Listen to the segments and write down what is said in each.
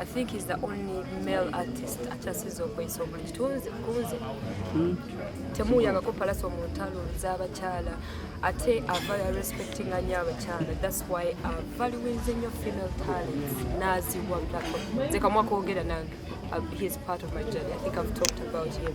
I think he's the only male artist akyasiza okweyisa obuli kitunzi kunze hmm. temuuyangako palaso mu ntalo z'abakyala ate ava ya respecting anyo abakyala thats why avaluinze nyo female talents naaziwa platform nze kamwakoogera nange uh, he is part of my journey i think i've talked about him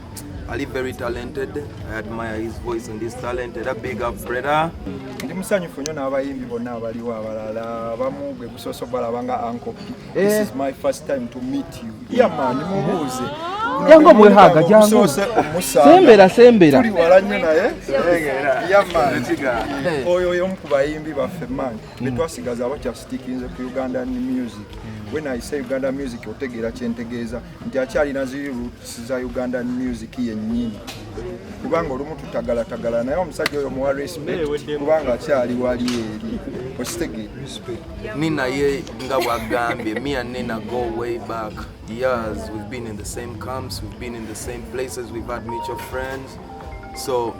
Ali very talented. I admire his voice and his talent. Era big up brother. Ndi musanyufu nnyo n'abayimbi bonna abaliwo abalala abamu gwe gusoose obalaba nga uncle. Eh. This is my first time to meet you. Yeah man, mubuuze. Jangu omwehaga jangu. Gusoose omusanga. Sembera sembera. Tuli wala nnyo naye. Yeah man. Eh. Oyo oyo omu ku bayimbi baffe man. Mm. Ne twasigaza abakyasitikinze ku Ugandan music. Mm. when I say Uganda music otegeera kyentegeeza nti akyalina ziri roots za Uganda music yennyini kubanga olumu tutagalatagala naye omusajja oyo muwa respect kubanga akyali wali eri ositege ni naye nga bwagambye me and nina go way back years we've been in the same camps we've been in the same places we've had mutual friends so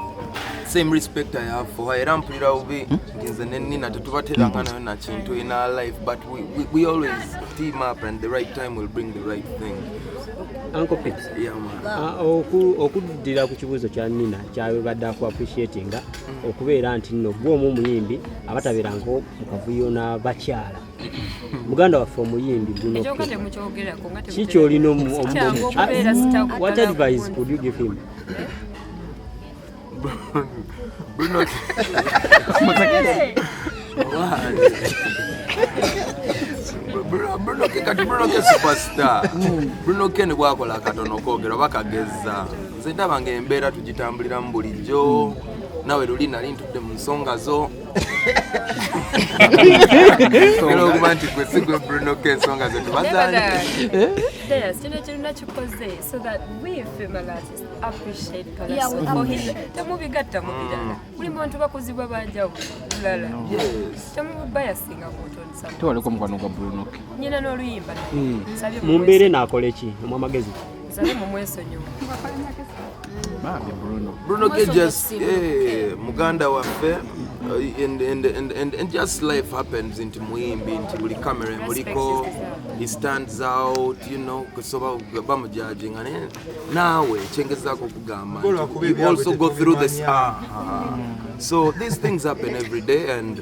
same respect I have for her era mpulira bubi hmm? nti nze ne Nina tetubateranga hmm. nayo na kintu in our life but we, we, we always team up and the right time will bring the right thing Uncle Pete yeah, ah, okuddira ku kibuuzo kya Nina kyabadde aku appreciatinga hmm. okubeera nti nno gwe omu omuyimbi abatabeera nko mu kavuyo n'abakyala muganda waffe omuyimbi kiki olina what advice could you give him Bruno. Bruno, Bruno ke kati Bruno ke superstar. Bruno ke ne bwakola katono kogera bakagezza. Nze ndaba ng'embeera tugitambuliramu bulijjo. Nawe luli nali ntudde mu nsonga zo. era okuba nti gwe sigwe bruno ko ensonga zetu bazanyekirina kikoze so that we female artists appreciate temubigatta mu birala buli muntu bakuzibwa banjawo bulala temubayasinga kutonsatewaliko mukwano gwa bruno nyina n'oluyimba nsabye mu mbeera enaakola eki omwamagezi Bruno Cages, eh, muganda waffe eh, and, and, and, and, and just life happens nti muyimbi nti buli camera emuliko he stands out you know kusoba bamujajinga naye naawe ekyengezako okugamba you also go through this ah, ah. so these things happen every day and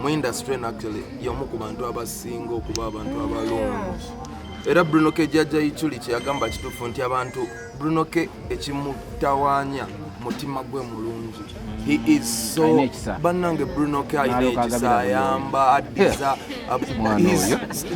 mu industry nactually y'omu ku bantu abasinga okuba abantu abalungi era bruno k jajja ichuli kyeyagamba kituufu nti abantu bruno k ekimutawanya mutima gwe mulungi bannange bruno k alina ekisa ayamba addiza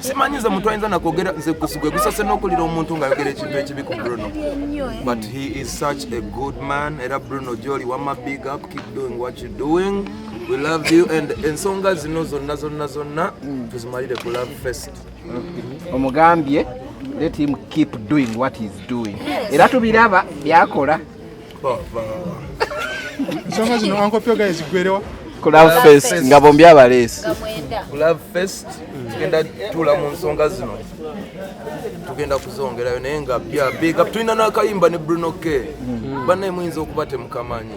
simanyiza muntu ayinza nakwogera nze gwe gusase n'okulira omuntu ng'ayogera ekintu ekibi ku bruno eh. but he is such a good man era bruno gyoli wama big up keep doing what you doing we love you and ensonga zino zonna zonna zonna mm. tuzimalire ku love fest mm-hmm. omugambye let him keep doing what he's doing era tubiraba byakola ensonga zino ankopyo gaye zigwerewa ku love fest nga bombi abaleesi ku love fest tugenda tuula mu nsonga zino tugenda kuzongerayo naye nga bya big up tulina n'akayimba ne bruno k mm-hmm. bannaye muyinza okuba temukamanyi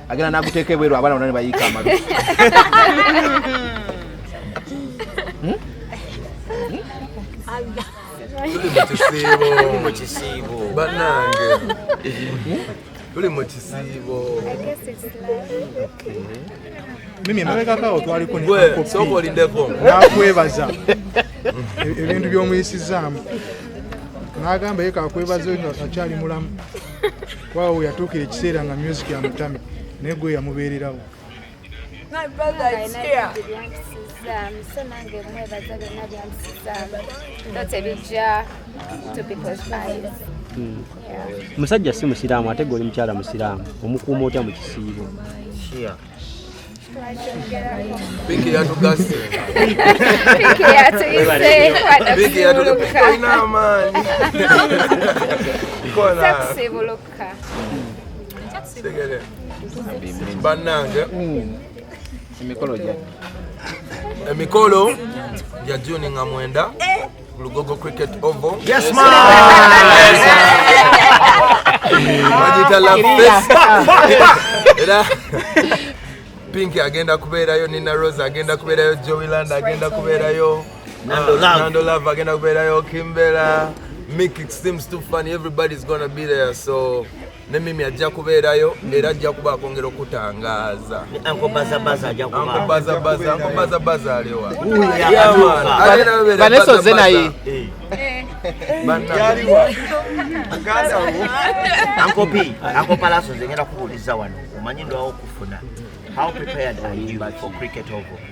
agenda naguteeka ebweru abaana bona ne bayiika amabi hmm? tuli mu kisiibo mimi emabegakaawo twaliko sokolindeko nakwebaza ebintu by'omuyisizaamu n'agamba ye kakwebaza akyali mulamu kwawo yatuukira ekiseera nga music yamutamye naye gwe yamubeererawo hmm. musajja si musiraamu ate gwe oli mukyala musiraamu omukuuma otya mu kisiibo Piki yatugase. Piki yatuyise Piki yatugase. Ina amani. Kona. Taxi buluka. Tegere. Banange. Emikolo gya. Emikolo gya June nga mwenda. Eh. Lugogo Cricket Oval. Yes, man. Majita la festa. Era Pinky agenda kubeerayo, Nina Rose agenda kubeerayo, Joey Land agenda kubeerayo, Nando Love, Nando Love agenda kubeerayo, Kimbera, Mick it seems too funny, everybody's gonna be there so ne mimi ajja kubeerayo era ajja kuba akwongera okutangaaza ankobazabaza aliwa vanessa oze naye ankopi ankopalaso zengera kubuuliza wano omanyi ndwawo okufuna how prepared are you for cricket over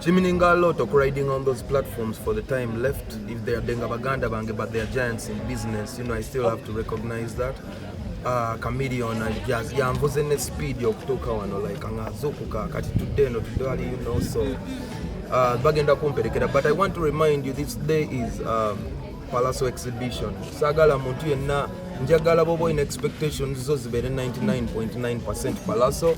Kimininga a lot okuriding on those platforms for the time left if they are denga baganda bange but they are giants in business you know I still have to recognize that uh, Chameleon jazz yanvuze ne speed okutuuka wano like angazukuka kati today eno tudali you know so uh, bagenda kumperekera but I want to remind you this day is uh, Palaso exhibition sagala muntu yenna njagala boba in expectations zo zibeere 99.9% Palaso